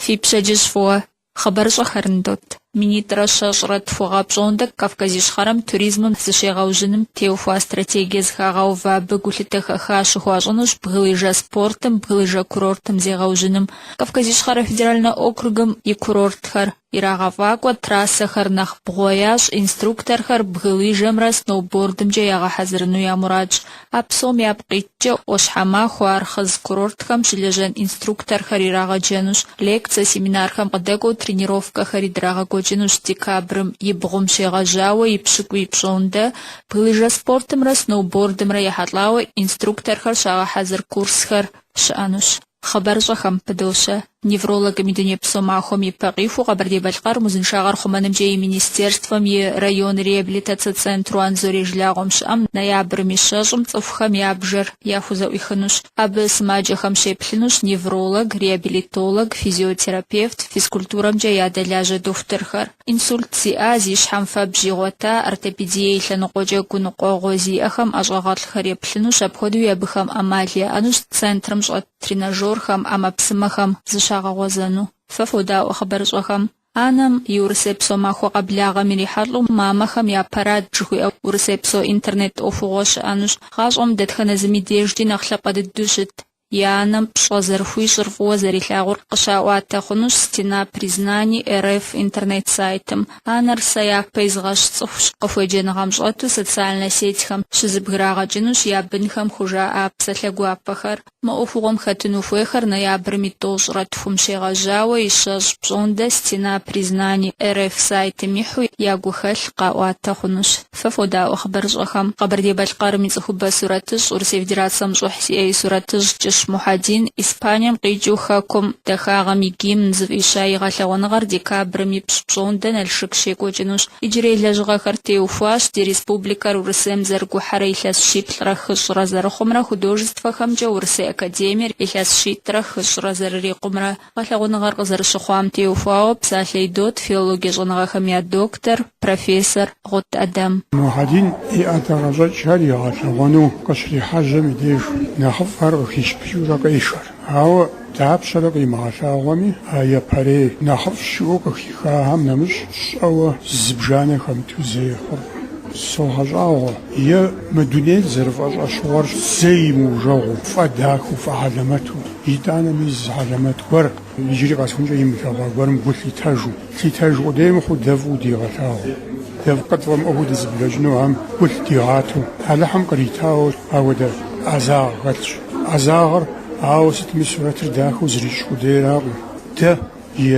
Фи пщэдджыжь фӏыуэ! Хъыбарыщӏэхэр ныдот. Минитӏрэ щэщӏрэ тху гъэ пщӏондэ Кавказ Ищхъэрэм туризмым зыщегъэужьыным теухуа стратегие зыхагъэувэ. Абы гулъытэ хэха щыхуащӏынущ бгылыжэ спортым, бгылыжэ курортым зегъэужьыным, Кавказ Ищхъэрэ федеральнэ округым и курортхэр ирагъэфӏакӏуэ, трассэхэр нэхъ бгъуэ ящӏ, инструкторхэр бгылыжэмрэ сноубордымкӏэ ягъэхьэзырыну я мурадщ. А псом япкъ иткӏэ ӏуащхьэмахуэ, Архъыз курортхэм щылэжьэн инструкторхэр ирагъэджэнущ, лекцэ, семинархэм къыдэкӏуэу тренировкэхэри драгъэкӏуэкӏынущ. Декабрым и бгъум щегъэжьауэ и пщыкӏуий пщӏондэ бгылыжэ спортымрэ сноубордымрэ ехьэлӏауэ инструкторхэр щагъэхьэзыр курсхэр щыӏэнущ. Хъыбарыщӏэхэм пыдощэ. Неврологым и дунейпсо махуэм и пэ къихуэу Къэбэрдей-Балъкъэрым узыншагъэр хъумэнымкӏэ и Министерствэм и район реабилитацэ центру Анзорей жылагъуэм щыӏэм ноябрым и щэщӏым цӏыхухэм я бжэр яхузэӏуихынущ. Абы сымаджэхэм щеплъынущ невролог, реабилитолог, физиотерапевт, физкультурэмкӏэ ядэлажьэ дохутырхэр. Инсульт зиӏа, зи щхьэм фэбжь игъуэта, ортопедие и лъэныкъуэкӏэ гуныкъуэгъуэ зиӏэхэм ӏэщӏагъэлӏхэр еплъынущ, апхуэдэуи абыхэм ӏэмал яӏэнущ центрым щӏэт тренажерхэм, ӏэмэпсымэхэм зыщагъэгъуэзэну. Фэ фодаӏуэ хъыбарыщӏэхэм. Анэм и урысейпсо махуэ къэблагъэм ирихьэлӏэу Мамэхэм я парад жыхуиӏэ урысейпсо интернет ӏуэхугъуэ щыӏэнущ. Гъащӏэм дэтхэнэ зыми дежкӏи нэхъ лъапӏэ дыдэу щыт. и анэм пщӏэ зэрыхуищӏыр фӏыуэ зэрилъагъур къыщаӏуатэ хъунущ Стена признаний РФ интернет-сайтым. Анэр сэ япэ изыгъэщ цӏыхущ, къыхуеджэныгъэм щӏэту социальнэ сетьхэм щызыбграгъэкӏынущ я бынхэм хужаӏа псалъэ гуапэхэр. Мы ӏуэхугъуэм хэтыну хуейхэр ноябрым и тӏощӏрэ тхум щегъэжьауэ и щэщӏ пщӏондэ Стена признаний РФ сайтым ихьу я гухэлъ къаӏуатэ хъунущ. Фэ фодаӏуэ хъыбарыщӏэхэм. Къэбэрдей-Балъкъэрым и цӏыхубэ сурэтыщӏ, Урысей Федерацэм щӏыхь зиӏэ и сурэтыщӏ Кӏыщ Мухьэдин Испанием къикӏыу Хэкум дахагъэм и гимн зыфӏища и гъэлъэгъуэныгъэр декабрым и пщӏ пщӏондэ Налшык щекӏуэкӏынущ. Иджырей лэжьыгъэхэр теухуащ ди республикэр Урысейм зэрыгухьэрэ илъэс щиплӏрэ хыщӏрэ зэрыхъумрэ, художествэхэмкӏэ Урысей академиер илъэс щитӏрэ хыщӏрэ зэрырикъумрэ, Гъэлъэгъуэныгъэр къызэрыщыхъуам теухуауэ псалъэ идот филологие щӏэныгъэхэм я доктор, профессор Гъут ӏэдэм. Мухьэдин и ӏэдакъэщӏэкӏхэр игъэлъэгъуэну къыщрихьэжьэм и деж нэхъыфӏхэр къыхищыпыкӏыурэ къешэр. Ауэ дапщэрэ къимыгъэлъагъуэми, а япэрей нэхъыфӏ щыӏэу къыхихахэм нэмыщӏ щӏэуэ зыбжанэ хэмыту зэи хъуркъым. Согъэщӏагъуэ, е мы дунейр зэрыфӏэщӏэщыгъуэр зэи мыужэгъуу, фӏэдахэу, фӏэхьэлэмэту. Итӏанэми зы хьэлэмэт гуэр, иджыри къэсхункӏэ имылъэгъуа гуэрым гу лъитэжу, лъитэжу къудей мыхъуу дэ фӏыуэ дигъэлъагъуу, дэ къытфӏэмыӏуэхуу дызыблэкӏынугъэм гу лъыдигъатэу, Алыхьым къритауэ апхуэдэ ӏэзагъ хэлъщ. ӏэзагъыр, ауэ сытми, сурэтыр дахэу зэрищӏ къудейракъым, дэ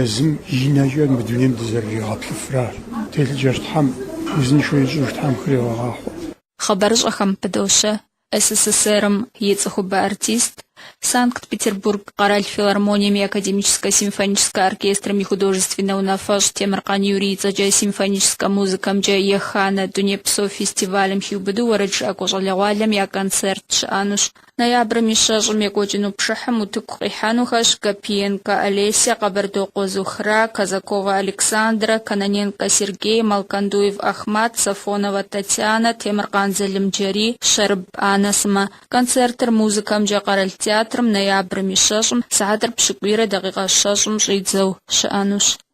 езым и нэкӏэ мы дунейм дызэрыригъэплъыфращ телъыджэр. Тхьэм узыншэу ищӏыж Тхьэм хригъэгъахъуэ. Хъыбарыщӏэхэм пыдощэ СССР-м и цӏыхубэ артист, Санкт-Петербург къэрал филармонием и академическэ-симфоническэ оркестрым и художественнэ унафэщӏ Темыркъан Юрий и цӏэкӏэ симфоническэ музыкэмкӏэ еханэ Дунейпсо фестивалым хиубыду уэрэджыӏакӏуэ щӏалэгъуалэм я концерт щыӏэнущ. Ноябрым и щэщӏым екӏуэкӏыну пшыхьым утыкум къихьэнухэщ Гапиенкэ Олеся, Къэбэрдокъуэ Зухра, Казаковэ Александрэ, Кононенкэ Сергей, Малкандуев Ахмат, Сафоновэ Татьянэ, Темыркъан Залымджэрий, Щэрыб Аннэ сымэ. Концертыр Музыкэмкӏэ къэрал театрым ноябрым и щэщӏым, сыхьэтыр пщыкӏуийрэ дакъикъэ щэщӏым щӏидзэу щыӏэнущ.